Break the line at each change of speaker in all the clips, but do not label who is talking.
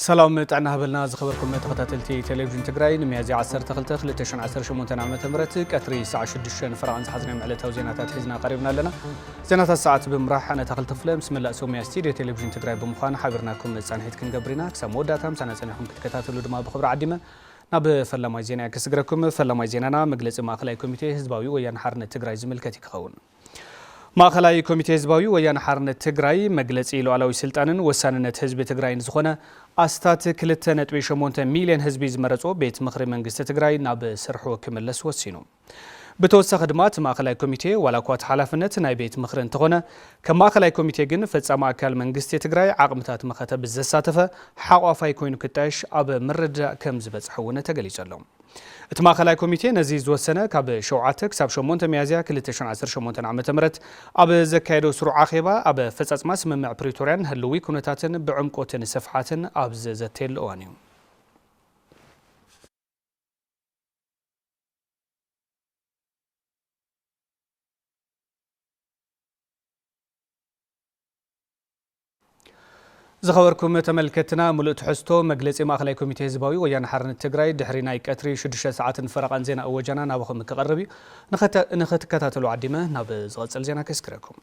ሰላም ጥዕና ሃበልና ዝኸበርኩም ተኸታተልቲ ቴሌቪዥን ትግራይ ንሚያዝያ 12 2018 ዓ ም ቀትሪ ሳዕ 6 ፈረቓን ዝሓዝናዮም ዕለታዊ ዜናታት ሒዝና ቀሪብና ኣለና ዜናታት ሰዓት ብምራሕ ኣነ ተኽል ተፍለ ምስ መላእ ሶምያ ስቲድዮ ቴሌቪዥን ትግራይ ብምዃን ሓቢርናኩም መጻንሒት ክንገብር ኢና። ክሳብ መወዳእታ ምሳና ጸኒሕኩም ክትከታተሉ ድማ ብኽብሪ ዓዲመ ናብ ፈላማይ ዜናያ ክስግረኩም። ፈላማይ ዜናና መግለጺ ማእኸላይ ኮሚቴ ህዝባዊ ወያነ ሓርነት ትግራይ ዝምልከት እዩ ክኸውን። ማእኸላይ ኮሚቴ ህዝባዊ ወያነ ሓርነት ትግራይ መግለጺ ሉኣላዊ ስልጣንን ወሳንነት ህዝቢ ትግራይን ዝኾነ ኣስታት ክልተ ነጥቢ ሸሞንተ ሚልየን ህዝቢ ዝመረጾ ቤት ምኽሪ መንግስቲ ትግራይ ናብ ስርሑ ክምለስ ወሲኑ። ብተወሳኺ ድማ እቲ ማእኸላይ ኮሚቴ ዋላኳ እቲ ሓላፍነት ናይ ቤት ምኽሪ እንተኾነ ከም ማእኸላይ ኮሚቴ ግን ፈፃሚ ኣካል መንግስቲ ትግራይ ዓቕምታት መኸተ ብዘሳተፈ ሓቋፋይ ኮይኑ ክጣየሽ ኣብ ምርድዳእ ከምዝበፅሐ እውን ተገሊፁ ኣሎ። እቲ ማእኸላይ ኮሚቴ ነዚ ዝወሰነ ካብ ሸውዓተ ክሳብ ሸሞንተ ሚያዝያ ክልተ ሽሕን ዓሰርተ ሸሞንተን ዓመተ ምህረት ኣብ ዘካየዶ ስሩዕ ኣኼባ ኣብ ኣፈፃፅማ ስምምዕ ፕሪቶርያን ህልዊ ኩነታትን ብዕምቆትን ስፍሓትን ኣብ ዘዘተየሉ እዋን እዩ። ዝኸበርኩም ተመልከትና ሙሉእ ትሕዝቶ መግለፂ ማእኸላይ ኮሚቴ ህዝባዊ ወያነ ሓርነት ትግራይ ድሕሪ ናይ ቀትሪ ሽዱሽተ ሰዓትን ፈረቓን ዜና እወጃና ናባኹም ክቐርብ እዩ። ንክትከታተሉ ዓዲመ ናብ ዝቐፅል ዜና ከስግረኩም።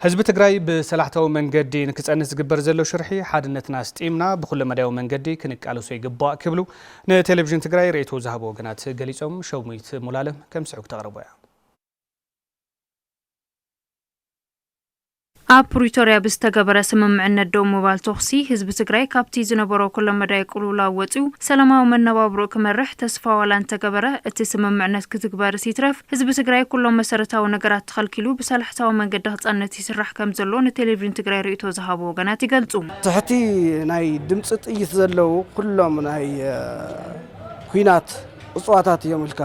ህዝቢ ትግራይ ብሰላሕታዊ መንገዲ ንክፀንት ዝግበር ዘሎ ሽርሒ ሓድነትና ኣስጢምና ብኩለመዳያዊ መንገዲ ክንቃለሶ ይግባእ ክብሉ ንቴሌቪዥን ትግራይ ርእይቶ ዝሃቡ ወገናት ገሊፆም። ሸዊት ሙሉኣለም ከም ስዑብ ተቕርቦ እያ።
ኣብ ፕሪቶርያ ብዝተገበረ ስምምዕነት ደው ምባል ተኹሲ ህዝቢ ትግራይ ካብቲ ዝነበሮ ኩለመዳይ ቅልውላው ወፂኡ ሰላማዊ መነባብሮኡ ክመርሕ ተስፋ ዋላ እንተገበረ እቲ ስምምዕነት ክትግበርስ ይትረፍ ህዝቢ ትግራይ ኩሎም መሰረታዊ ነገራት ተኸልኪሉ ብሰላሕታዊ መንገዲ ክፀንት ይስራሕ ከምዘሎ ንቴሌቪዥን ትግራይ ርእይቶ ዝሃቡ ወገናት ይገልፁ። ትሕቲ
ናይ ድምፂ ጥይት ዘለዉ ኩሎም ናይ ኲናት እፅዋታት እዮም ኢልካ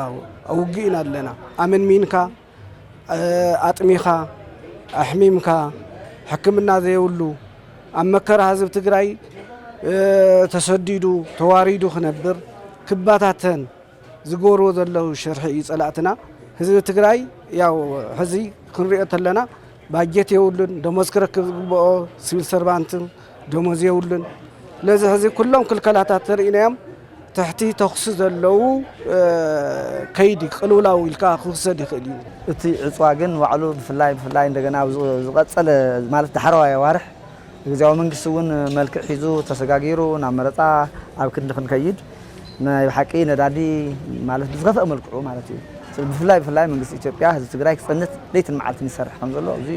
ኣብ ውግእ ኢና ኣለና ኣመንሚንካ ኣጥሚኻ ኣሕሚምካ ሕክምና ዘየብሉ ኣብ መከራ ህዝቢ ትግራይ ተሰዲዱ ተዋሪዱ ክነብር ክበታተን ዝገብርዎ ዘለዉ ሽርሒ እዩ ፀላእትና። ህዝቢ ትግራይ ያው ሕዚ ክንሪኦ ተለና ባጀት የብሉን፣ ደሞዝ ክረክብ ዝግብኦ ስቪል ሰርቫንት ደሞዝ የብሉን። ስለዚ ሕዚ ኩሎም ክልከላታት ተርእናዮም ትሕቲ ተኹሲ ዘለዉ ከይዲ ቅልውላው ኢልካ ክውሰድ ይኽእል እዩ። እቲ ዕፅዋ
ግን ንባዕሉ ብፍላይ ብፍላይ እንደገና ኣብ ዝቐፀለ ማለት ዳሕረዋይ ኣዋርሕ ግዝያዊ መንግስቲ እውን መልክዕ ሒዙ ተሰጋጊሩ ናብ መረፃ ኣብ ክንዲ ክንከይድ ናይ ብሓቂ ነዳዲ ማለት ብዝኸፈእ መልክዑ ማለት እዩ ብፍላይ ብፍላይ መንግስቲ ኢትዮጵያ ህዝቢ ትግራይ ክፀንት ለይትን መዓልትን ይሰርሕ ከም ዘሎ እዚ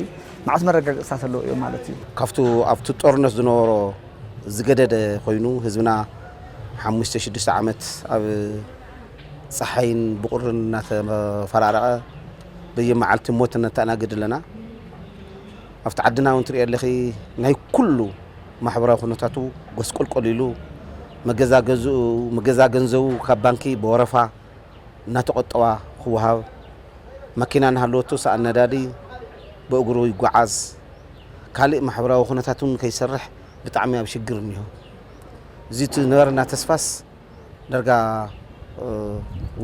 መዓት መረጋገፅታት ኣለዎ እዮም ማለት እዩ። ካብቱ ኣብቱ
ጦርነት ዝነበሮ ዝገደደ ኮይኑ ህዝብና ሓሙሽተ ሽዱሽተ ዓመት ኣብ ፀሓይን ብቑርን እናተፈራረቐ በየመዓልቲ ሞት እነተኣናግድ ኣለና። ኣብቲ ዓድና እውን ትሪኦ ኣለኺ ናይ ኩሉ ማሕበራዊ ኩነታቱ ጎስቆልቆል ኢሉ መገዛ ገዝኡ፣ መገዛ ገንዘቡ ካብ ባንኪ ብወረፋ እናተቖጠባ ክወሃብ፣ መኪና እናሃለወቶ ሰኣን ነዳዲ ብእግሩ ይጓዓዝ፣ ካሊእ ማሕበራዊ ኩነታት እውን ከይሰርሕ ብጣዕሚ ኣብ ሽግር እኒሆ። እዚ እቲ ዝነበረና ተስፋስ ዳርጋ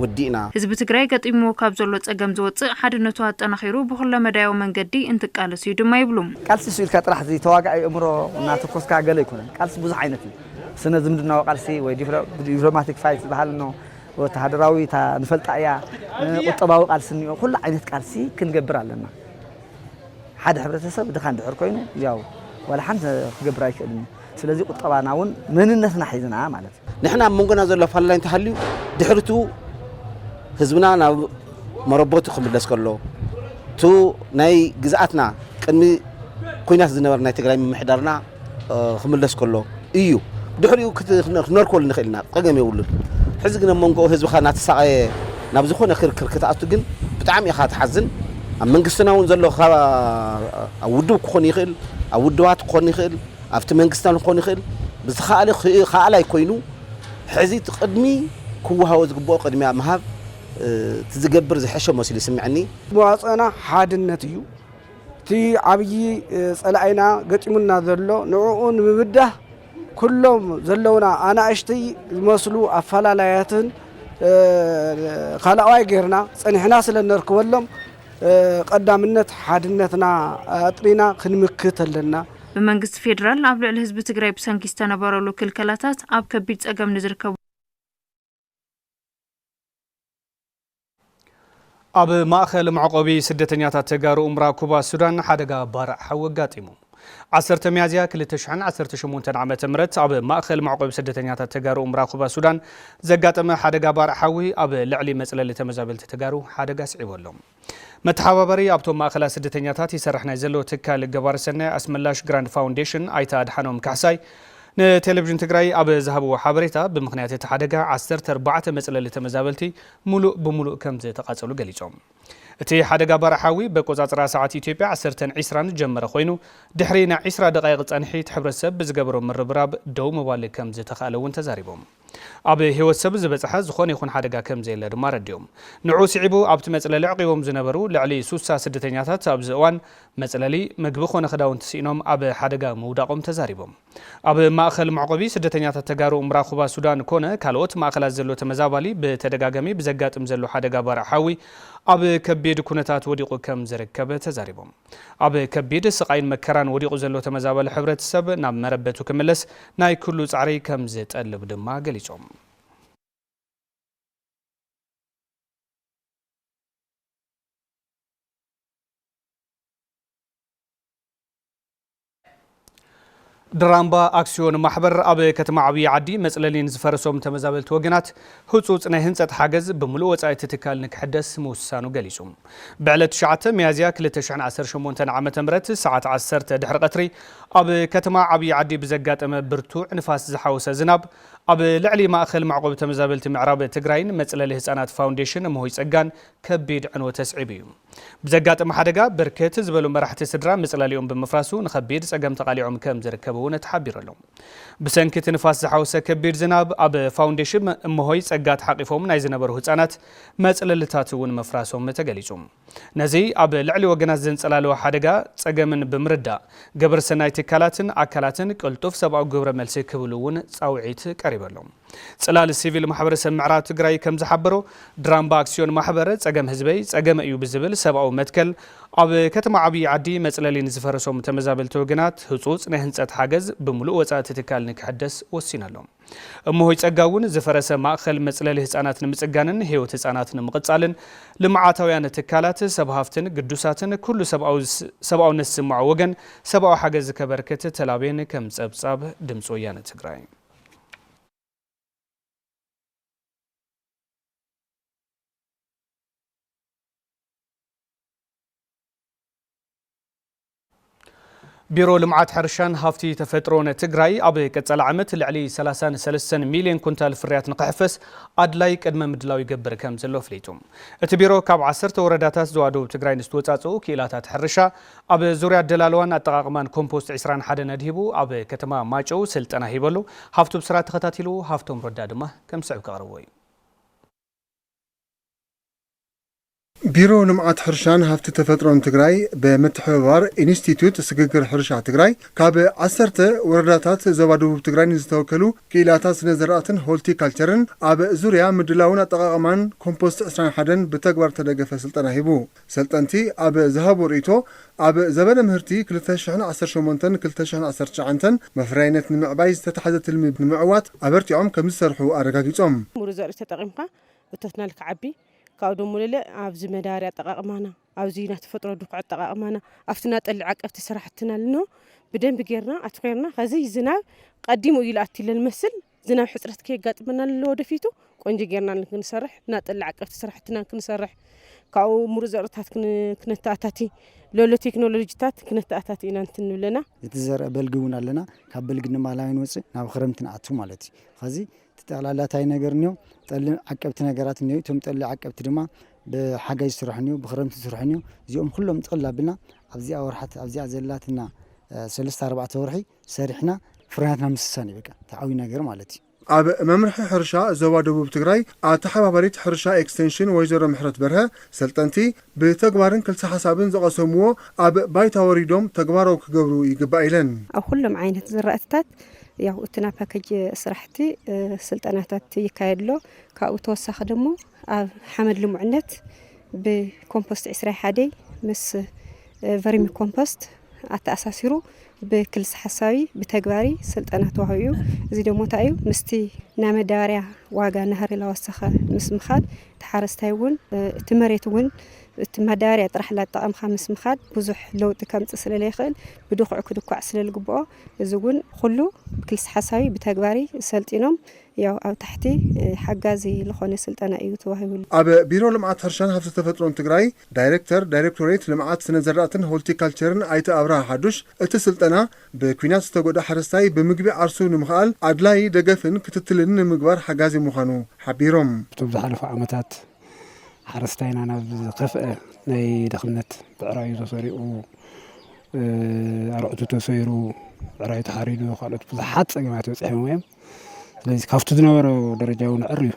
ወዲእና። ህዝቢ ትግራይ ገጢምዎ
ካብ ዘሎ ፀገም ዝወፅእ ሓድነቱ ኣጠናኺሩ ብኹለ መዳያዊ መንገዲ እንትቃለስ እዩ ድማ ይብሉ። ቃልሲ እሱ ኢልካ ጥራሕ
እዚ ተዋጋኢ እእምሮ እናተኮስካ ገለ ኣይኮነን ቃልሲ ብዙሕ ዓይነት እዩ። ስነ ዝምድናዊ ቃልሲ ወይ ዲፕሎማቲክ ፋይት ዝበሃል እኖ ወተሃደራዊ እታ ንፈልጣ እያ፣ ቁጠባዊ ቃልሲ እኒኦ፣ ኩሉ ዓይነት ቃልሲ ክንገብር ኣለና። ሓደ ሕብረተሰብ ድኻ እንድሕር ኮይኑ ያው ዋላ ሓንቲ ክገብር ኣይክእልን እዩ። ስለዚ ቁጠባና እውን መንነትና ሒዝና ማለት እዩ። ንሕና ኣብ መንጎና ዘሎ
ኣፈላላይ እንተሃልዩ ድሕሪ እቱ ህዝብና ናብ መረቦቱ ክምለስ ከሎ እቱ ናይ ግዝኣትና ቅድሚ ኩናት ዝነበረ ናይ ትግራይ ምምሕዳርና ክምለስ ከሎ ኢዩ ድሕሪኡ ክነርኮል ንኽእል ኢና ጸገም የብሉን ሕዚ ግን ኣብ መንጎ ህዝብኻ እናተሳቐየ ናብ ዝኾነ ክርክር ክትኣቱ ግን ብጣዕሚ ኢኻ ትሓዝን ኣብ መንግስትና እውን ዘሎ ኣብ ውድብ ክኾን ይኽእል ኣብ ውድባት ክኾን ይኽእል ኣብቲ መንግስትና ክኾን ይኽእል ብዝኸኣለ ከኣላይ ኮይኑ ሕዚ እቲ ቅድሚ ክወሃቦ ዝግብኦ ቅድሚያ ምሃብ እቲ ዝገብር ዝሐሸ መስሉ ይስምዐኒ። መዋፅእና
ሓድነት እዩ። እቲ ዓብዪ ፀላኢና ገጢሙና ዘሎ ንዕኡ ንምብዳህ ኩሎም ዘለውና ኣናእሽተይ ዝመስሉ ኣፈላላያትን ካልኣዋይ ጌርና ፀኒሕና ስለ እነርክበሎም ቐዳምነት ሓድነትና ኣጥሪና ክንምክት ኣለና።
ብመንግስቲ ፌዴራል ኣብ ልዕሊ ህዝቢ ትግራይ ብሰንኪ ዝተነበረሉ ክልከላታት ኣብ ከቢድ ፀገም ንዝርከቡ።
ኣብ ማእኸል መዕቆቢ ስደተኛታት ተጋሩ ኡምራ ኩባ ሱዳን ሓደጋ ባርዕ ሓዊ ኣጋጢሙ። ዓሰርተ ሚያዝያ 2018 ዓ ም ኣብ ማእኸል መዕቆቢ ስደተኛታት ተጋሩ ኡምራ ኩባ ሱዳን ዘጋጠመ ሓደጋ ባርዕ ሓዊ ኣብ ልዕሊ መፅለሊ ተመዛበልቲ ተጋሩ ሓደጋ ስዒቦሎም። መተሓባበሪ ኣብቶም ማእኸላት ስደተኛታት ይሰርሕ ናይ ዘሎ ትካል ገባሪ ሰናይ ኣስመላሽ ግራንድ ፋውንዴሽን ኣይተ ኣድሓኖም ካሕሳይ ንቴሌቪዥን ትግራይ ኣብ ዝሃብዎ ሓበሬታ ብምኽንያት እቲ ሓደጋ ዓሰርተ ኣርባዕተ መፅለሊ ተመዛበልቲ ሙሉእ ብሙሉእ ከምዝተቓፀሉ ገሊፆም። እቲ ሓደጋ ባርዕ ሓዊ በቆፃፅራ ሰዓት ኢትዮጵያ ዓሰርተን ዒስራን ዝጀመረ ኮይኑ ድሕሪ ናይ ዒስራ ደቓይቕ ፀንሒት ሕብረተሰብ ብዝገበሮ ምርብራብ ደው ምባል ከምዝተኽኣለ እውን ተዛሪቦም። ኣብ ህይወት ሰብ ዝበጽሐ ዝኾነ ይኹን ሓደጋ ከምዘየለ ድማ ኣረዲኦም። ንዕኡ ስዒቡ ኣብቲ መጽለሊ ኣዕቚቦም ዝነበሩ ልዕሊ ሱሳ ስደተኛታት ኣብዚ እዋን መጽለሊ፣ ምግቢ ኮነ ክዳውንቲ ስኢኖም ኣብ ሓደጋ ምውዳቖም ተዛሪቦም። ኣብ ማእከል መዕቖቢ ስደተኛታት ተጋሩ እምራኩባ ሱዳን ኮነ ካልኦት ማእከላት ዘሎ ተመዛባሊ ብተደጋጋሚ ብዘጋጥም ዘሎ ሓደጋ ባርዕ ሓዊ ኣብ ከቢድ ኩነታት ወዲቑ ከምዝርከብ ተዛሪቦም። ኣብ ከቢድ ስቓይን መከራን ወዲቑ ዘሎ ተመዛባሊ ሕብረተሰብ ናብ መረበቱ ክምለስ ናይ ኩሉ ጻዕሪ ከምዝጠልብ ድማ ገሊጾም። ድራምባ ኣክስዮን ማሕበር ኣብ ከተማ ዓብዪ ዓዲ መፅለሊ ንዝፈረሶም ተመዛበልቲ ወገናት ህፁፅ ናይ ህንፀት ሓገዝ ብምሉእ ወፃኢ እቲ ትካል ንክሕደስ ምውሳኑ ገሊፁ። ብዕለት ትሽዓተ ሚያዝያ ክልተ ሽሕን ዓሰርተ ሸሞንተን ዓ ም ሰዓት ዓሰርተ ድሕሪ ቐትሪ ኣብ ከተማ ዓብዪ ዓዲ ብዘጋጠመ ብርቱዕ ንፋስ ዝሓወሰ ዝናብ ኣብ ልዕሊ ማእኸል መዕቖቢ ተመዛበልቲ ምዕራብ ትግራይን መፅለሊ ህፃናት ፋውንዴሽን እመሆይ ፀጋን ከቢድ ዕንወት ኣስዒቡ እዩ። ብዘጋጠመ ሓደጋ ብርክት ዝበሉ መራሕቲ ስድራ መፅለሊኦም ብምፍራሱ ንኸቢድ ፀገም ተቓሊዖም ከምዝርከቡ እውን ተሓቢሩ ኣሎ። ብሰንኪ እቲ ንፋስ ዝሓወሰ ከቢድ ዝናብ ኣብ ፋውንዴሽም እመሆይ ፀጋ ተሓቚፎም ናይ ዝነበሩ ህፃናት መፅለልታት እውን ምፍራሶም ተገሊፁ። ነዚ ኣብ ልዕሊ ወገናት ዘንፀላለወ ሓደጋ ፀገምን ብምርዳእ ገበረሰናይ ትካላትን ኣካላትን ቅልጡፍ ሰብኣዊ ግብረ መልሲ ክህብሉ እውን ፃውዒት ቀሪቡ ኣሎ። ፅላል ሲቪል ማሕበረሰብ ምዕራብ ትግራይ ከምዝሓበሮ ድራምባ ኣክስዮን ማሕበር ፀገም ህዝበይ ፀገመ እዩ ብዝብል ሰብኣዊ መትከል ኣብ ከተማ ዓብዪ ዓዲ መፅለሊ ንዝፈረሶም ተመዛበልቲ ወገናት ህፁፅ ናይ ህንፀት ሓገዝ ብሙሉእ ወፃኢ እቲ ትካል ንክሕደስ ወሲኑ ኣሎ። እመሆይ ፀጋ እውን ዝፈረሰ ማእኸል መፅለሊ ህፃናት ንምፅጋንን ህይወት ህፃናት ንምቕፃልን ልምዓታውያን ትካላት፣ ሰብ ሃፍትን ግዱሳትን ኩሉ ሰብኣውነት ዝስምዖ ወገን ሰብኣዊ ሓገዝ ከበርክት ተላብየን ከም ፀብፃብ ድምፂ ወያነ ትግራይ። ቢሮ ልምዓት ሕርሻን ሃፍቲ ተፈጥሮን ትግራይ ኣብ ቀፃሊ ዓመት ልዕሊ 33 ሚሊዮን ኩንታል ፍርያት ንክሕፈስ ኣድላይ ቅድመ ምድላው ይገብር ከም ዘሎ ኣፍሊጡ። እቲ ቢሮ ካብ ዓሰርተ ወረዳታት ዞባ ደቡብ ትግራይ ንዝተወፃፅኡ ክኢላታት ሕርሻ ኣብ ዙርያ ኣደላልዋን ኣጠቓቕማን ኮምፖስት ዕስራን ሓደን ኣድሂቡ ኣብ ከተማ ማጨው ስልጠና ሂቡ ኣሎ። ሃፍቱ ብስራት ተኸታቲልዎ፣ ሃፍቶም ረዳ ድማ ከም ዝስዕብ ከቕርቦ እዩ።
ቢሮ ልምዓት ሕርሻን ሃፍቲ ተፈጥሮን ትግራይ ብምትሕብባር ኢንስቲትዩት ስግግር ሕርሻ ትግራይ ካብ ዓሰርተ ወረዳታት ዞባ ደቡብ ትግራይ ንዝተወከሉ ክኢላታት ስነ ዘራእትን ሆልቲ ካልቸርን ኣብ ዙርያ ምድላውን ኣጠቓቕማን ኮምፖስት ዕስራን ሓደን ብተግባር ዝተደገፈ ስልጠና ሂቡ። ሰልጠንቲ ኣብ ዝሃብዎ ርእይቶ፣ ኣብ ዘበነ ምህርቲ ክልተ ሽሕን ዓሰርተ ሸሞንተን ክልተ ሽሕን ዓሰርተ ትሽዓንተን መፍረያይነት ንምዕባይ ዝተታሕዘ ትልሚ ንምዕዋት ኣበርቲዖም ከምዝሰርሑ ኣረጋጊፆም። ምሩፅ ዘርኢ ተጠቒምካ
እቶትና ንክዓቢ ካብኡ ደሞ ለለ ኣብዚ መዳበርያ ኣጠቓቕማና፣ ኣብዚ ናይ ተፈጥሮ ድኹዒ ኣጠቓቕማና፣ ኣብቲ ናይ ጠሊ ዓቀብቲ ስራሕትና ልንሆ ብደንቢ ገይርና ኣትኹርና ኸዚ ዝናብ ቐዲሙ እዩ ልኣቲ ለልመስል ዝናብ ሕፅረት ከየጋጥመና ንለወደፊቱ ቆንጆ ጌርና ክንሰርሕ እና ጠላ ዓቀብቲ ስራሕትና ክንሰርሕ ካብኡ ሙሩፅ ዘርእታት ክነተኣታቲ ለሎ ቴክኖሎጂታት ክነተኣታቲ ኢና እንትን ንብለና እቲ ዘርኢ በልጊ
እውን ኣለና ካብ በልጊ ንማላይ ንወፅእ ናብ ክረምቲ ንኣቱ ማለት እዩ ኸዚ እቲ ጠቕላላ እንታይ ነገር እኒኦ ጠሊ ዓቀብቲ ነገራት እኒኦ እቶም ጠሊ ዓቀብቲ ድማ ብሓጋይ ዝስርሑ እኒኦ ብክረምቲ ዝስርሑ እኒኦ እዚኦም ኩሎም ጥቕል ኣብልና ኣብዚኣ ወርሓት ኣብዚኣ ዘላትና ሰለስተ ኣርባዕተ ወርሒ ሰሪሕና ፍርያትና ምስሳን እዩ በቃ እቲ ዓብዩ ነገር ማለት እዩ። ኣብ መምርሒ
ሕርሻ ዞባ ደቡብ ትግራይ ኣተሓባባሪት ሕርሻ ኤክስቴንሽን ወይዘሮ ምሕረት በርሀ፣ ሰልጠንቲ ብተግባርን ክልሰ ሓሳብን ዝቐሰምዎ ኣብ ባይታ ወሪዶም ተግባራዊ ክገብሩ ይግባእ ኢለን። ኣብ ኹሎም ዓይነት
ዝራእትታት ያው እቲ ናይ ፓኬጅ ስራሕቲ ስልጠናታት ይካየድ ኣሎ። ካብኡ ተወሳኺ ደሞ ኣብ ሓመድ ልሙዕነት ብኮምፖስት ዕስራይ ሓደይ ምስ ቨርሚ ኮምፖስት ኣተኣሳሲሩ ብክልሲ ሓሳቢ ብተግባሪ ስልጠና ተዋሂቡ እዩ። እዚ ደሞ እንታይ እዩ ምስቲ ናይ መዳበርያ ዋጋ ናህሪ ላወሰኸ ምስ ምኻድ እቲ ሓረስታይ እውን እቲ መሬት እውን እቲ መዳበርያ ጥራሕ ላጠቐምካ ምስ ምኻድ ብዙሕ ለውጢ ከምፅእ ስለለይኽእል ብድኹዕ ክድኳዕ ስለልግብኦ እዚ እውን ኩሉ ብክልሲ ሓሳቢ ብተግባሪ ሰልጢኖም ያው ኣብ ታሕቲ ሓጋዚ ልኾነ ስልጠና እዩ ተዋሂቡሉ። ኣብ ቢሮ ልምዓት
ሕርሻን ሃፍቲ ተፈጥሮን ትግራይ ዳይሬክተር ዳይሬክቶሬት ልምዓት ስነ ዘራእትን ሆልቲካልቸርን ኣይተ ኣብርሃ ሓዱሽ እቲ ስልጠና ብኲናት ዝተጎድኣ ሓረስታይ ብምግቢ ዓርሱ ንምኽኣል ኣድላዪ ደገፍን ክትትልን ንምግባር ሓጋዚ ምዃኑ ሓቢሮም። ኣብቶም ዝሓለፉ
ዓመታት ሓረስታይና ናብ ዝኸፍኣ ናይ ድኽነት ብዕራዩ ተሰሪቑ፣ ኣርዑቱ ተሰይሩ፣ ብዕራዩ ተሓሪዱ ካልኦት ብዙሓት ፀገማት በፂሖምዎ እዮም። ስለዚ ካብቲ ዝነበሮ ደረጃ እውን ኣዕርዩ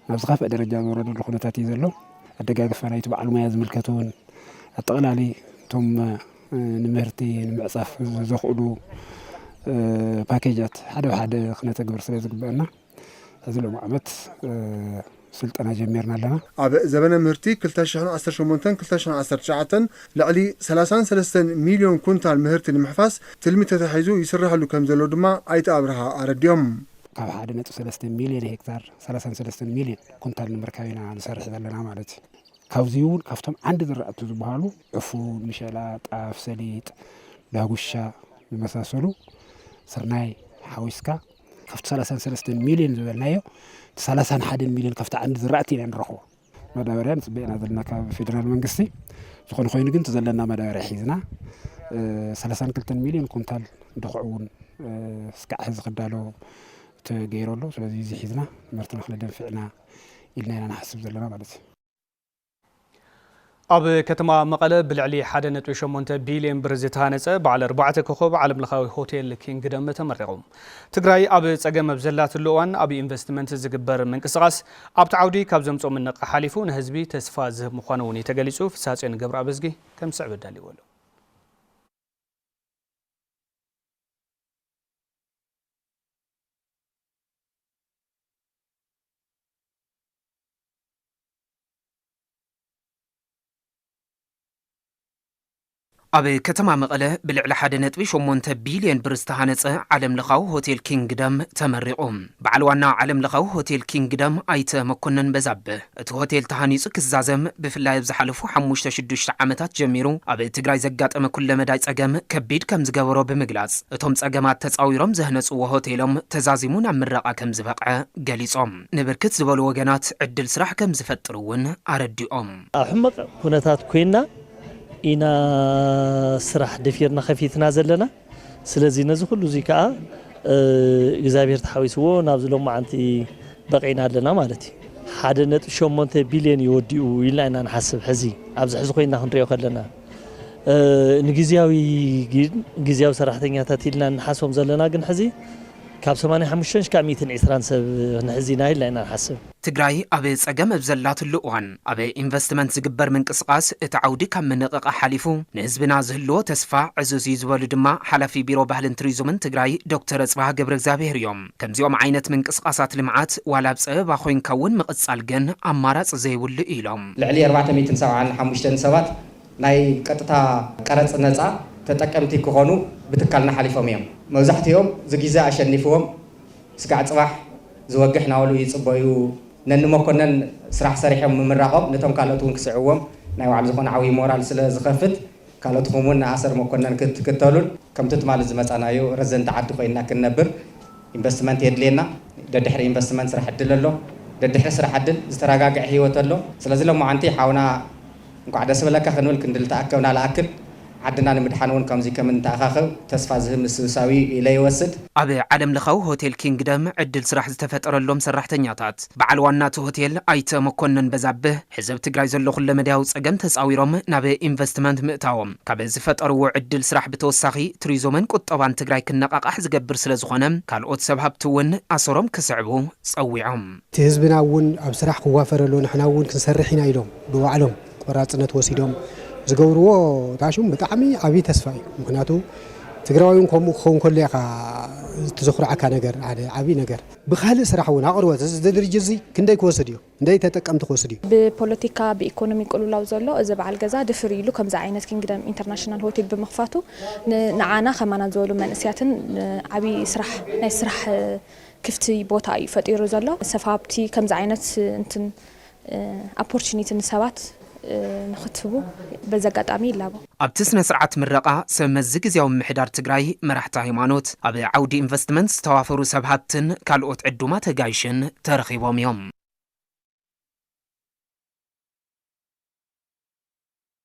ናብ ዝኸፍአ ደረጃ ዝወረደሉ ኩነታት እዩ ዘሎ ኣደጋግፋ ናይቲ በዓል ሙያ ዝምልከት እውን ኣጠቕላሊ እቶም ንምህርቲ ንምዕፃፍ ዘኽእሉ ፓኬጃት ሓደ ብሓደ ክነተግብር ስለ ዝግበአና እዚ ሎሚ ዓመት ስልጠና ጀሚርና ኣለና። ኣብ ዘበነ ምህርቲ
ክልተ ሽሕን ዓሰርተ ሸሞንተን ክልተ ሽሕን ዓሰርተ ትሽዓተን ልዕሊ ሰላሳን ሰለስተን ሚልዮን ኩንታል ምህርቲ ንምሕፋስ ትልሚ ተታሒዙ ይስረሐሉ ከምዘሎ ድማ ኣይተ ኣብርሃ ኣረዲኦም። ካብ ሓደ
ነጥቢ ሰለስተ ሚልዮን ሄክታር ሰላሳን ሰለስተን ሚልዮን ኩንታል ንምርካብ ኢና ንሰርሕ ዘለና ማለት እዩ። ካብዚ እውን ካብቶም ዓንዲ ዝራእቲ ዝበሃሉ ዕፉን፣ ምሸላ፣ ጣፍ፣ ሰሊጥ፣ ዳጉሻ ዝመሳሰሉ ስርናይ ሓዊስካ ካብቲ ሰላሳን ሰለስተን ሚልዮን ዝበልናዮ እቲ ሰላሳን ሓደን ሚልዮን ካብቲ ዓንዲ ዝራእቲ ኢና ንረኽቦ መዳበርያ ንፅበ ኢና ዘለና ካብ ፌደራል መንግስቲ ዝኾነ ኮይኑ ግን እቲ ዘለና መዳበርያ ሒዝና ሰላሳን ክልተን ሚልዮን ኩንታል ድኹዕ እውን እስካዕ ሕዚ ክዳሎ ተገይሩ ኣሎ ስለዚ እዚ ሒዝና ምህርቲ ንክነደንፍዕ ኢና ኢልና ኢና ንሓስብ ዘለና ማለት እዩ
ኣብ ከተማ መቐለ ብልዕሊ ሓደ ነጥቢ ሸሞንተ ቢልየን ብር ዝተሃነፀ በዓል ኣርባዕተ ኮኾብ ዓለም ለኻዊ ሆቴል ኪንግደም ተመሪቑ። ትግራይ ኣብ ፀገም ኣብ ዘላትሉ እዋን ኣብ ኢንቨስትመንት ዝግበር ምንቅስቓስ ኣብቲ ዓውዲ ካብ ዘምፅኦ ምንቕቓሕ ሓሊፉ ንህዝቢ ተስፋ ዝህብ ምዃኑ እውን እዩ ተገሊፁ። ፍስሃፅዮን ገብረኣብዝጊ ከም ዝስዕብ ኣዳሊዎ ኣሎ።
ኣብ ከተማ መቐለ ብልዕሊ ሓደ ነጥቢ ሸሞንተ ቢልዮን ብር ዝተሃነፀ ዓለም ለኻዊ ሆቴል ኪንግደም ተመሪቑ። በዓል ዋና ዓለም ለኻዊ ሆቴል ኪንግደም ኣይተ መኮነን በዛብህ፣ እቲ ሆቴል ተሃኒፁ ክዛዘም ብፍላይ ኣብ ዝሓለፉ ሓሙሽተ ሽዱሽተ ዓመታት ጀሚሩ ኣብ ትግራይ ዘጋጠመ ኩለ መዳይ ፀገም ከቢድ ከምዝገበሮ ብምግላፅ፣ እቶም ፀገማት ተፃዊሮም ዘህነፅዎ ሆቴሎም ተዛዚሙ ናብ ምረቓ ከምዝበቕዐ ገሊፆም። ንብርክት ዝበሉ ወገናት ዕድል ስራሕ ከምዝፈጥር እውን ኣረዲኦም። ኣብ ሕመቕ
ኩነታት ኮይና ኢና ስራሕ ደፊርና ከፊትና ዘለና። ስለዚ ነዚ ኩሉ እዙይ ከዓ እግዚኣብሔር ተሓዊስዎ ናብዚ ሎማዓንቲ በቒዕና ኣለና ማለት እዩ። ሓደ ነጥቢ ሸሞንተ ቢልዮን እዩ ወዲኡ ኢልና ኢና ንሓስብ ሕዚ ኣብዚ ሕዚ ኮይና ክንሪኦ ከለና። ንግዝያዊ ግን ግዝያዊ ሰራሕተኛታት ኢልና እንሓስቦም ዘለና ግን ሕዚ ካብ ሰማንያ ሓሙሽተ ሽካዕ ሚእትን ዒስራን ሰብ ክንሕዝ ኢና ኢልና ኢና ንሓስብ። ትግራይ ኣብ
ፀገም ኣብ ዘላትሉ እዋን ኣብ ኢንቨስትመንት ዝግበር ምንቅስቓስ እቲ ዓውዲ ካብ ምንቕቓሕ ሓሊፉ ንህዝብና ዝህልዎ ተስፋ ዕዙዝ እዩ ዝበሉ ድማ ሓላፊ ቢሮ ባህልን ቱሪዙምን ትግራይ ዶክተር ኣፅብሃ ገብረእግዚኣብሄር እዮም። ከምዚኦም ዓይነት ምንቅስቓሳት ልምዓት ዋላ ኣብ ፀበባ ኮይንካ እውን ምቕፃል ግን ኣማራፂ ዘይብሉ እዩ ኢሎም። ልዕሊ ኣርባዕተ ሚእትን
ሰብዓን ሓሙሽተን ሰባት ናይ ቀጥታ ቀረጽ ነጻ ተጠቀምቲ ክኾኑ ብትካልና ሓሊፎም እዮም። መብዛሕቲኦም ዝጊዘ ኣሸኒፍዎም ስጋዕ ጽባሕ ዝወግሕ ናወሉ ይጽበዩ። ነኒ መኮነን ስራሕ ሰሪሖም ምምራቆም ነቶም ካልኦት እውን ክስዕብዎም ናይ ባዕሉ ዝኾነ ዓብይ ሞራል ስለ ዝኸፍት ካልኦትኹም እውን ንኣሰር መኮነን ክትክተሉን ከምቲ ትማሊ ዝመጻናዮ ረዘንቲ ዓዲ ኮይንና ክንነብር ኢንቨስትመንት የድልየና ደድሕሪ ኢንቨስትመንት ስራሕ ዕድል ኣሎ ደድሕሪ ስራሕ ዕድል ዝተረጋግዐ ሂወት ኣሎ ስለዚ ሎማዓንቲ ሓውና እንኳዕ ደስ በለካ ክንብል ክንዲ ልተኣከብና ልኣክል፣ ዓድና ንምድሓን እውን ከምዙይ ከም እንተኣኻኸብ ተስፋ ዝህብ ምስብሳው እዩ ኢለ ይወስድ። ኣብ ዓለም ለኻዊ
ሆቴል ኪንግደም ዕድል ስራሕ ዝተፈጠረሎም ሰራሕተኛታት በዓል ዋና እቲ ሆቴል ኣይተ መኮነን በዛብህ ሕዚ ኣብ ትግራይ ዘሎ ኩለመዳያዊ ፀገም ተፃዊሮም ናብ ኢንቨስትመንት ምእታዎም ካብ ዝፈጠርዎ ዕድል ስራሕ ብተወሳኺ ቱሪዞምን ቁጠባን ትግራይ ክነቓቓሕ ዝገብር ስለዝኾነ ካልኦት ሰብ ሃብቲ እውን ኣሰሮም ክስዕቡ ፀዊዖም። እቲ ህዝብና እውን
ኣብ ስራሕ ክዋፈር ኣለዎ ንሕና እውን ክንሰርሕ ኢና ኢሎም ብባዕሎም ቆራፅነት ወሲዶም ዝገብርዎ ታሹም ብጣዕሚ ዓብዪ ተስፋ እዩ ምክንያቱ ትግራዋይ እውን ከምኡ ክኸውን ከሎ ኢኻ እቲ ዘኹርዓካ ነገር ሓደ ዓብዪ ነገር። ብካልእ ስራሕ እውን ኣቕርቦት እዚ ድርጅት እዚ ክንደይ ክወስድ እዩ ክንደይ ተጠቀምቲ ክወስድ እዩ? ብፖለቲካ ብኢኮኖሚ
ቅልውላው ዘሎ እዚ በዓል ገዛ ድፍር ኢሉ ከምዚ ዓይነት ኪንግደም ኢንተርናሽናል ሆቴል ብምኽፋቱ ንዓና ከማና ዝበሉ መንእስያትን ዓብዪ ስራሕ ናይ ስራሕ ክፍቲ ቦታ እዩ ፈጢሩ ዘሎ ሰፋብቲ ከምዚ ዓይነት እንትን ኣፖርችኒቲ ንሰባት ንክትህቡ በዚ ኣጋጣሚ ይላቦ። ኣብቲ ስነ ስርዓት
ምረቓ ሰብ መዚ ግዝያዊ ምምሕዳር ትግራይ፣ መራሕቲ ሃይማኖት፣ ኣብ ዓውዲ ኢንቨስትመንት ዝተዋፈሩ ሰብ ሃብትን ካልኦት ዕዱማት ኣጋይሽን ተረኺቦም እዮም።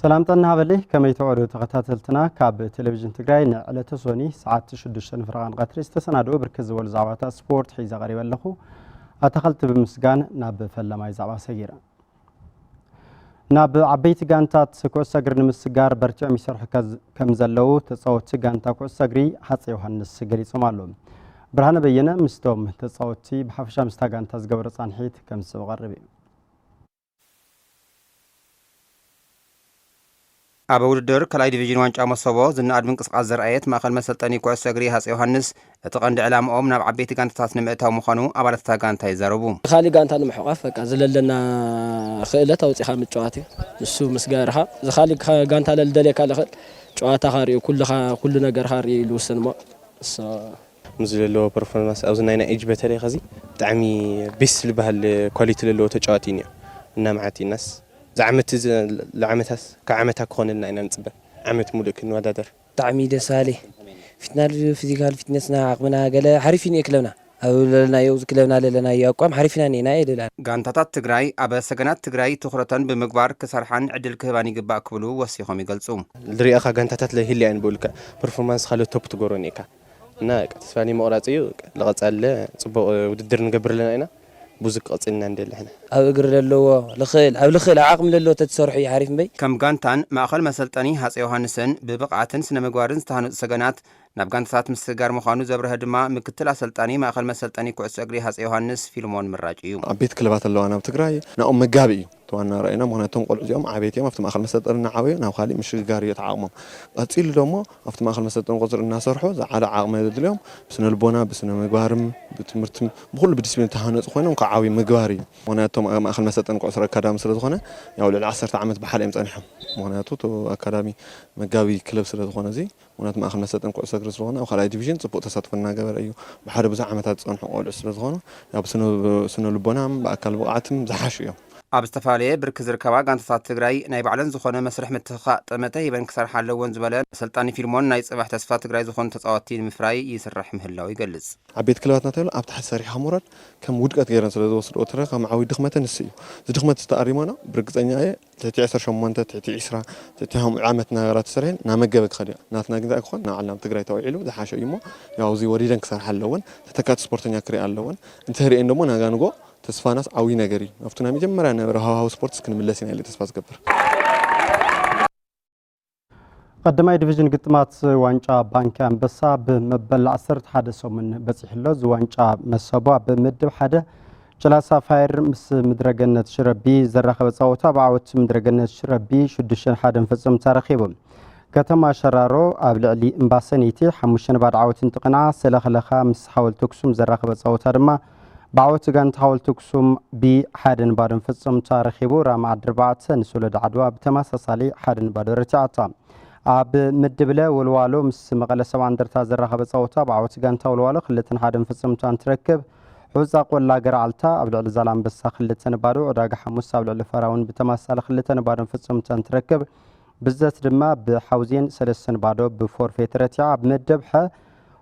ሰላም ጥዕና ሃበለይ ከመይ ትዕሩ ተኸታተልትና ካብ ቴሌቭዥን ትግራይ ንዕለተ ሶኒ ሰዓት 6 ንፍረቓን ቀትሪ ዝተሰናድኡ ብርክት ዝበሉ ዛዕባታት ስፖርት ሒዘ ቀሪበ ኣለኹ ኣታኸልቲ ብምስጋን ናብ ፈለማይ ዛዕባ ሰጊረ ናብ ዓበይቲ ጋንታት ኩዕሶ እግሪ ንምስጋር በርቲዖም ይሰርሑ ከም ዘለዉ ተፃወቲ ጋንታ ኩዕሶ እግሪ ሃፀ ዮሃንስ ገሊፆም ኣለዉ ብርሃነ በየነ ምስቶም ተፃወቲ ብሓፈሻ ምስታ ጋንታ ዝገበሮ ፃንሒት ከም ዝስብ ቀርብ እዩ
ኣብ ውድድር ካልኣይ ዲቪዥን ዋንጫ መሶቦ ዝነኣድ ምንቅስቓስ ዘርኣየት ማእኸል መሰልጠኒ ኩዕሶ እግሪ ሃፀይ ዮሃንስ እቲ ቀንዲ ዕላምኦም ናብ ዓበይቲ ጋንታታት ንምእታው ምዃኑ ኣባላት እታ ጋንታ ይዛረቡ። ንካሊእ ጋንታ ንምሕቋፍ
በቃ ዝለለና ክእለት ኣውፂእኻ ምጭዋት እዩ። ንሱ ምስ ገበርኻ እዚ ካሊእ ጋንታ ለልደልየካ ልኽእል ጨዋታኻ ሪኡ ኩልኻ ኩሉ ነገርኻ ሪኡ እዩ ልውስን እሞ እሱ
ምስዚ ለለዎ ፐርፎርማንስ ኣብዚ ናይ ናይ ኢጅ በተለይ ከዚ ብጣዕሚ ቤስት ልበሃል ኳሊቲ ለለዎ ተጫዋቲ እዩ ኒኦ እና መዓት ኢናስ ዝዓመት እዚ ለዓመታስ ካብ ዓመታ ክኮነልና ኢና ንፅበ ዓመት ሙሉእ ክንወዳደር። ብጣዕሚ ደስ በሃሊ
ፊትናል ፍዚካል ፊትነስና ዓቅምና ገለ ሓሪፍ እዩ ኒኤ ክለብና ኣብ ለለናዮ እዚ ክለብና ለለናዮ ኣቋም ሓሪፍ ኢና ኒኤና እየ ልብል ኣነ። ጋንታታት ትግራይ
ኣብ ሰገናት ትግራይ ትኹረተን ብምግባር ክሰርሓን ዕድል ክህባን ይግባእ ክብሉ ወሲኾም ይገልፁ። ልሪኣኻ ጋንታታት
ለይህልያ እየን ብኡ ልክዕ ፐርፎርማንስ ካልኦት ቶፕ ትገብሮ ኒኤካ። እና ተስፋ ዘይምቕራፅ እዩ ልቐፀለ ፅቡቕ ውድድር ንገብር ኣለና ኢና ብዙ ክቕፅል ኢና ንደሊ ሕነ። ኣብ እግሪ ለለዎ
ልክእል ኣብ ልክእል ኣብ ዓቅሚ ለለዎ ተትሰርሑ እዩ ሓሪፍ እምበይ። ከም ጋንታን ማእኸል
መሰልጠኒ ሃፀይ ዮሃንስን ብብቕዓትን ስነ ምግባርን ዝተሃነፁ ሰገናት ናብ ጋንታታት ምስግጋር ምዃኑ ዘብረሀ ድማ ምክትል ኣሰልጣኒ ማእኸል መሰልጠኒ ኩዕሶ እግሪ ሃፀይ ዮሃንስ ፊልሞን ምራጭ እዩ። ዓበይቲ ክለባት ኣለዋና ኣብ
ትግራይ ናኦም መጋቢ እዩ። እቲ ዋና ራኢና ምኽንያቱ እቶም ቆልዑ እዚኦም ዓበይቲ እዮም ኣብቲ ማእኸል መሰልጠኒ እናዓበዩ ናብ ኻሊእ ምሽግጋር እዩ እቲ ዓቕሞም ቐፂሉ ደሞ ኣብቲ ማእኸል መሰልጠኒ ቁፅሪ እናሰርሑ ዝዓለ ዓቕሚ ዘድልዮም ብስነልቦና ብስነምግባርም ብትምህርትም ብኹሉ ብዲስፕሊን ዝተሃነፁ ኾይኖም ኽዓብዩ ምግባር እዩ ምኽንያቱ እቶም ኣብ ማእኸል መሰልጠኒ ኩዕሶ ኣካዳሚ ስለዝኾነ ያው ልዕሊ ዓሰርተ ዓመት ብሓደ እዮም ፀኒሖም ምኽንያቱ እቲ ኣካዳሚ መጋቢ ክለብ ስለዝኾነ እዙይ ምኽንያቱ ማእኸል መሰልጠኒ ኩዕሶ እግሪ ስለዝኾነ ኣብ ካልኣይ ዲቪዥን ፅቡቕ ተሳትፎ እናገበረ እዩ። ብሓደ ብዙሕ ዓመታት ዝፀንሑ ቆልዑ ስለዝኾኑ ያው ብስነ ልቦናም ብኣካል ብቕዓትም ዝሓሹ እዮም። ኣብ ዝተፈላለየ
ብርኪ ዝርከባ ጋንታታት ትግራይ ናይ ባዕለን ዝኾነ መስርሕ ምትኽኻእ ጠመተ ሂበን ክሰርሓ ኣለወን ዝበለ ኣሰልጣኒ ፊልሞን ናይ ፅባሕ ተስፋ ትግራይ ዝኾኑ ተፃወትቲ ንምፍራይ ይስራሕ ምህላው ይገልፅ። ዓበይቲ ክለባት ናተብሃሉ
ኣብ ታሕቲ ሰሪሕኻ ምውራድ ከም ውድቀት ገይረን ስለዝወስድኦ ትረኻ መዓውይ ድኽመተን ንሱ እዩ። እዚ ድኽመት እዚ ተኣሪሞኖ ብርግፀኛ እየ ትሕቲ ዕስራ ሸሞንተ፣ ትሕቲ ዒስራ፣ ትሕቲ ሓምኡ ዓመት ናበራ ተሰሪሐን ናመገበ ክኸድዮ ናትና ግን ኣይኮን ናዓልና ኣብ ትግራይ ተውዒሉ ዝሓሸ እዩሞ ያው እዙይ ወሪደን ክሰርሓ ኣለወን ተተካእቲ ስፖርተኛ ክሪኣ ኣለወን እንተሪኤን ደሞ ናጋንጎ ተስፋናስ ዓውይ ነገር እዩ ናብቱ ናይ መጀመርያ ነበረ ሃዋህው ስፖርትስ ክንምለስ ኢና ኢለ ተስፋ ዝገብር።
ቀዳማይ ዲቪዥን ግጥማት ዋንጫ ባንኪ ኣንበሳ ብመበል 11 ሰሙን በፂሕሎ እዚ ዋንጫ መሰቡ ኣብ ምድብ ሓደ ጭላ ሳፋየር ምስ ምድረገነት ሽረቢ ዘራኸበ ፃወታ ብዓወት ምድረገነት ሽረቢ 6 ሓደ ፈፀሙ ተረኺቡ ከተማ ሸራሮ ኣብ ልዕሊ እምባሰነይቲ ሓሙሽተ ንባዶ ዓወት እንትቕንዓ ሰለኽለኻ ምስ ሓወልቲ ኣክሱም ዘራኸበ ፃወታ ድማ ብዓወት ጋንታ ሓወልቲ ኣክሱም ብ ሓደ ን ባዶን ፍጹም ተረኪቡ። ራማ ዓዲ ኣርባዕተ ን ሶሎዳ ዓድዋ ብተመሳሳሊ ሓደ ን ባዶ ረቲዓታ። ኣብ ምድብ ለ ወልዋሎ ምስ መቐለ ሰብዓ እንደርታ ዘራኸበ ጸወታ ብ ዓወት ጋንታ ወልዋሎ ክልተ ን ሓደን ፍጹምታ እንትረክብ፣ ሑጻ ቆላ ገረዓልታ ኣብ ልዕሊ ዛላምበሳ ክልተ ን ባዶ፣ ዕዳጋ ሓሙስ ኣብ ልዕሊ ፈራውን ብተመሳሳሊ ክልተ ን ባዶን ፍጹምታ እንትረክብ፣ ብዘት ድማ ብ ሓውዜን ሰለስተ ን ባዶ ብ ፎርፌ ተረቲዓ። ኣብ ምድብ ሐ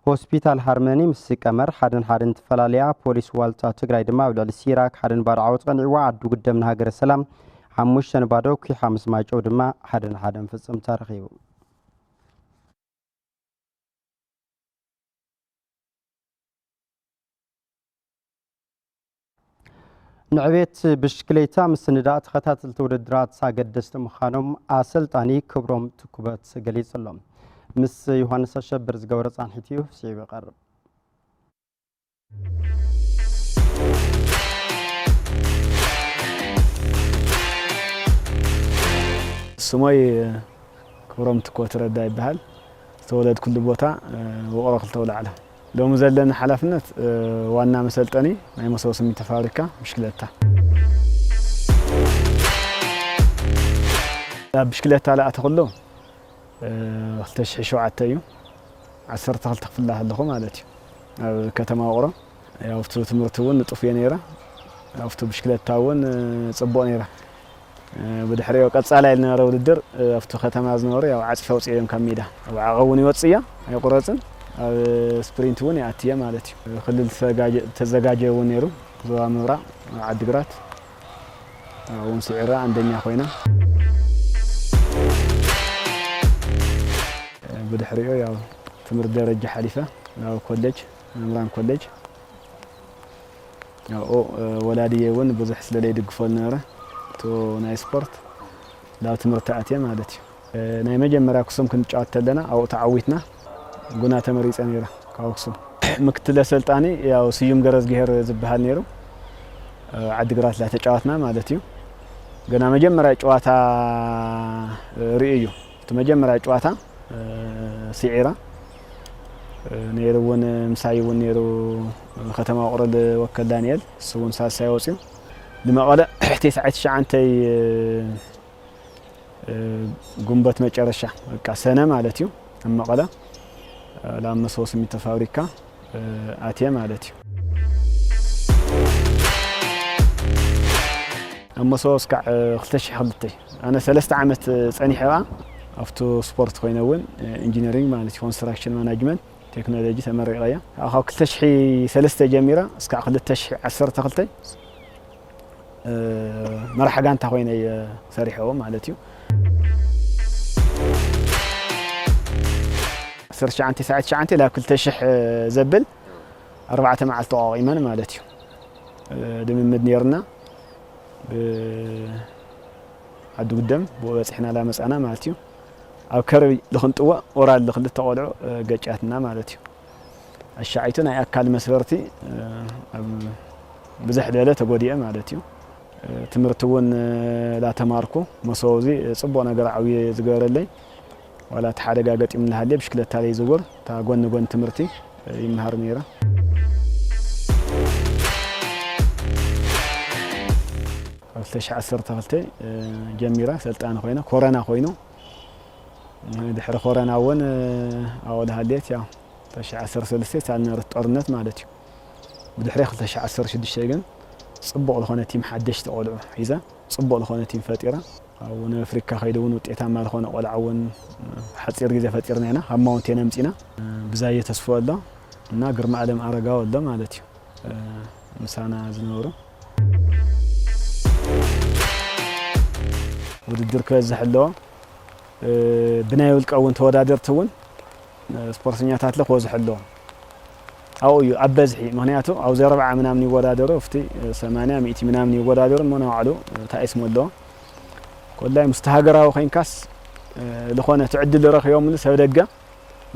ሆስፒታል ሃርመኒ ምስ ቀመር ሓደን ሓደን ትፈላለያ፣ ፖሊስ ዋልታ ትግራይ ድማ ኣብ ልዕሊ ሲራክ ሓደን ባዶ ዓወት ቐኒዕዋ፣ ዓዱ ግደም ንሃገረ ሰላም ሓሙሽተ ንባዶ ኲሓ ምስ ማይጨው ድማ ሓደ ንሓደ ምፍጽምታ ረኺቡ። ንዕቤት ብሽክሌታ ምስንዳእ ተኸታተልቲ ውድድራት ኣገደስቲ ምዃኖም ኣሰልጣኒ ክብሮም ትኩበት ገሊጹ ኣሎ። ምስ ዮሃንስ ኣሸብር ዝገበረ ጻንሒት እዩ ስዒቡ ይቐርብ።
ስሞይ ክብሮም ትኮት ረዳ ይበሃል ዝተወለድኩሉ ቦታ ውቕሮ ክልተ ኣውላዕሎ ሎሚ ዘለኒ ሓላፍነት ዋና መሰልጠኒ ናይ መሶቦ ስሚንቶ ፋብሪካ ብሽክለታ። ናብ ብሽክለታ ዝኣተኹሉ ክልተ ሽሕን ሸውዓተን እዩ። ዓሰርተ ክልተ ክፍሊ ከለኹ ማለት እዩ ኣብ ከተማ ውቕሮ። ኣብቲ ትምህርቲ እውን ንጡፍ እየ ነይረ፣ ኣብቲ ብሽክለታ እውን ፅቡቕ ነይረ። ብድሕሪኦ ቀጻላይ ዝነበረ ውድድር ኣብቲ ከተማ ዝነበሩ ያው ዓጽፊ ኣውጺኦ እዮም ካብ ሜዳ ኣብ ዓቐብ እውን ይወጽእ እያ ኣይቁረጽን ኣብ ስፕሪንት እውን ይኣቲ እየ ማለት እዩ ክልል ተዘጋጀ እውን ነይሩ ዞባ ምብራቕ ዓዲግራት እውን ስዒራ ኣንደኛ ኮይና ብድሕሪኦ ያው ትምህርት ደረጃ ሓሊፈ ናብ ኮሌጅ መምራን ኮሌጅ ኣብኡ ወላዲየይ እውን ብዙሕ ስለ ለይድግፎ ዝነበረ እቱ ናይ ስፖርት ላብ ትምህርቲ ኣትየ ማለት እዩ። ናይ መጀመርያ ኣክሱም ክንጫወት ተለና ኣብኡ ተዓዊትና ጉና ተመሪፀ ነይረ ካብ ኣክሱም። ምክትል ኣሰልጣኒ ያው ስዩም ገረዝግሄር ዝበሃል ነይሩ ዓዲግራት ላ ተጫወትና ማለት እዩ። ገና መጀመርያ ጨዋታ ርእዩ እዩ እቲ መጀመርያ ጨዋታ ስዒራ ነይሩ እውን ምሳይ እውን ነይሩ ከተማ ውቕሮ ዝወከል ዳንኤል እሱ እውን ሳልሳይ ወፅዩ ንመቐለ ቴስዓይ ትሽዓንተይ ግንቦት መጨረሻ በቃ ሰነ ማለት እዩ ኣብ መቐለ ላብ መሰቦ ስሚንቶ ፋብሪካ ኣትየ ማለት እዩ ኣብ መሰቦ እስካዕ 2002 ኣነ ሰለስተ ዓመት ጸኒሐ እባ ኣብቱ ስፖርት ኮይነ እውን ኢንጂነሪንግ ማለት እዩ ኮንስትራክሽን ማናጅመንት ቴክኖሎጂ ተመሪቐ እያ ካብኡ ካብ ክልተ ሽሒ ሰለስተ ጀሚረ እስካዕ ክልተ ሽሒ ዓሰርተ ክልተ መራሕ ጋንታ ኮይነ እየ ሰሪሐዎ ማለት እዩ ዓሰርተ ትሽዓን ትስዓን ትሽዓን ላብ ክልተ ሽሕ ዘብል ኣርባዕተ መዓልቲ ተቋቒመን ማለት እዩ ልምምድ ነይርና ብዓዲ ጉደም ብኡ በጺሕናላ መጻና ማለት እዩ። ኣብ ከረቢ ልክንጥወእ ኦራል ልክልተ ቆልዑ ገጫትና ማለት እዩ። ኣሻዓይቱ ናይ ኣካል መስበርቲ ኣብ ብዝሕ ዝበለ ተጎዲኤ ማለት እዩ። ትምህርቲ እውን ላተማርኩ መሰቡ እዚ ጽቡቕ ነገር ዓብዩ ዝገበረለይ ዋላ እቲ ሓደጋ ገጢሙ እናሃለየ ብሽክለታ ዘይዝውር እታ ጎን ንጎን ትምህርቲ ይመሃር ነይረ። ካብ ክልተ ሽሕ ዓሰርተ ክልተ ጀሚረ ሰልጣኒ ኮይነ ኮረና ኮይኑ ድሕሪ ኮረና እውን ኣብኡ ዝሃለየት ያው ክልተ ሽሕ ዓሰርተ ሰለስተ ሳልነበረት ጦርነት ማለት እዩ ብድሕሪ ክልተ ሽሕ ዓሰርተ ሽዱሽተ ግን ፅቡቕ ዝኾነ ቲም ሓደሽቲ ቆልዑ ሒዘ ፅቡቕ ዝኾነ ቲም ፈጢረ ኣብ ወነ ኣፍሪካ ከይዱ እውን ውጤታማ ዝኾነ ቆልዓ እውን ሓፂር ግዜ ፈጢርና ኢና ካብ ማውንቴን ኣምፂና ብዛየ ተስፍኡ ኣሎ እና ግርማኣለም ኣረጋዊ ኣሎ ማለት እዩ ምሳና ዝነበሩ ውድድር ክበዝሕ ኣለዎ ብናይ ውልቀ እውን ተወዳደርቲ እውን ስፖርተኛታት ለ ክበዝሑ ኣለዎም ኣብኡ እዩ ኣብ በዝሒ ምክንያቱ ኣብዚ ኣርብዓ ምናምን ይወዳደሩ ኣብቲ ሰማንያ ሚእቲ ምናምን ይወዳደሩ እሞ ናባዕሉ እንታይ ስሙ ኣለዎ ኮላይ ምስቲ ሃገራዊ ኮንካስ ዝኾነ ትዕድል ረኺቦምሉ ሰብ ደገ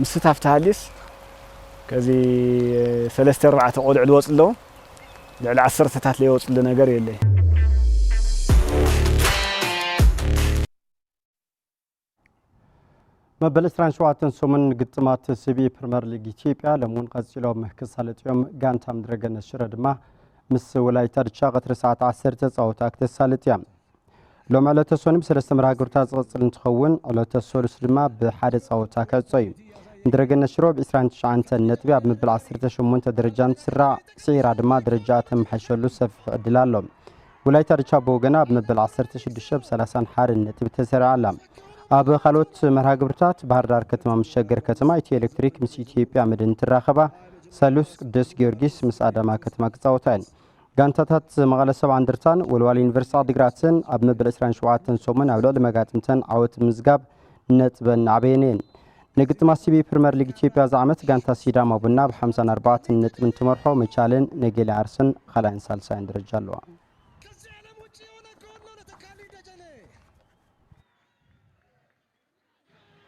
ምስታፍ ተሃልዩስ ከዚ ሰለስተ ኣርባዕተ ቆልዑ ዝወፁ ኣለዉ ልዕሊ ዓሰርተታት ዘይወፅሉ ነገር የለይ
መበል ዕስራን ሸውዓተን ሰሙን ግጥማት ሲቢኢ ፕሪመር ሊግ ኢትዮጵያ ሎም እውን ቀፂሎም ክሳለጡ እዮም። ጋንታ ምድረገነት ሽረ ድማ ምስ ወላይታ ድቻ ቀትሪ ሰዓት 10 ተፃወታ ክተሳልጥ እያ። ሎም ዕለተ ሶኒ ብሰለስተ መርሃ ግብርታት ዝቐፅል እንትኸውን ዕለተ ሰሉስ ድማ ብሓደ ፃወታ ክዕጾ እዩ ምድረገነት ሽሮ ብ 29 ነጥቢ ኣብ ምብል 18 ደረጃ እንትስራዕ ስዒራ ድማ ደረጃ ተመሓይሸሉ ሰፊሕ ዕድል ኣሎ ወላይታ ድቻ ብወገና ኣብ መበል 16 ብ 30 ሓርን ነጥቢ ተሰሪዓ ኣላ። ኣብ ካልኦት መርሃ ግብርታት ባህር ዳር ከተማ ምስ ሸገር ከተማ፣ ኢትዮ ኤሌክትሪክ ምስ ኢትዮጵያ መድን እንትራኸባ፣ ሰሉስ ቅዱስ ጊዮርጊስ ምስ ኣዳማ ከተማ ክጻወታ እየን። ጋንታታት መቐለ ሰብዓ እንደርታን ወልዋል ዩኒቨርሲቲ ዓዲግራትን ኣብ መበል 27 ሰሙን ኣብ ልዕሊ መጋጥምተን ዓወት ምዝጋብ ነጥበን ናዕበየን እየን። ንግጥማት ሲቢ ፕሪመር ሊግ ኢትዮጵያ እዚ ዓመት ጋንታ ሲዳማ ቡና ብ 54 ነጥቢ እንትመርሖ መቻልን ነገሌ ዓርስን ካልኣይን ሳልሳይን ደረጃ ኣለዋ።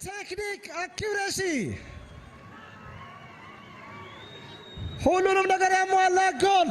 ቴክኒክ አኪሬሲ ሁሉንም ነገር ያሟላ ጎል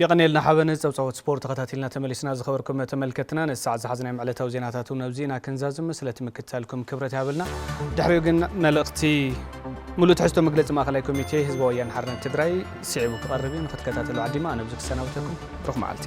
የቐንየልና ሓበን፣ ጸብጻባት ስፖርት ተኸታቲልና ተመሊስና። ዝኸበርኩም ተመልከትና ነዚ ሰዓት ዝሓዝናዮም ዕለታዊ ዜናታት እውን ኣብዚ ኢና ክንዛዝም፣ ስለቲ ምክትታልኩም ክብረት ይሃበልና። ድሕሪኡ ግን መልእኽቲ ሙሉእ ትሕዝቶ መግለጺ ማእከላይ ኮሚቴ ህዝባዊ ወያነ ሓርነት ትግራይ ስዒቡ ክቐርብ እዩ፣ ንክትከታተሉ ዓዲማ ኣነ ኣብዚ ክሰናብተኩም ብሩኽ መዓልቲ።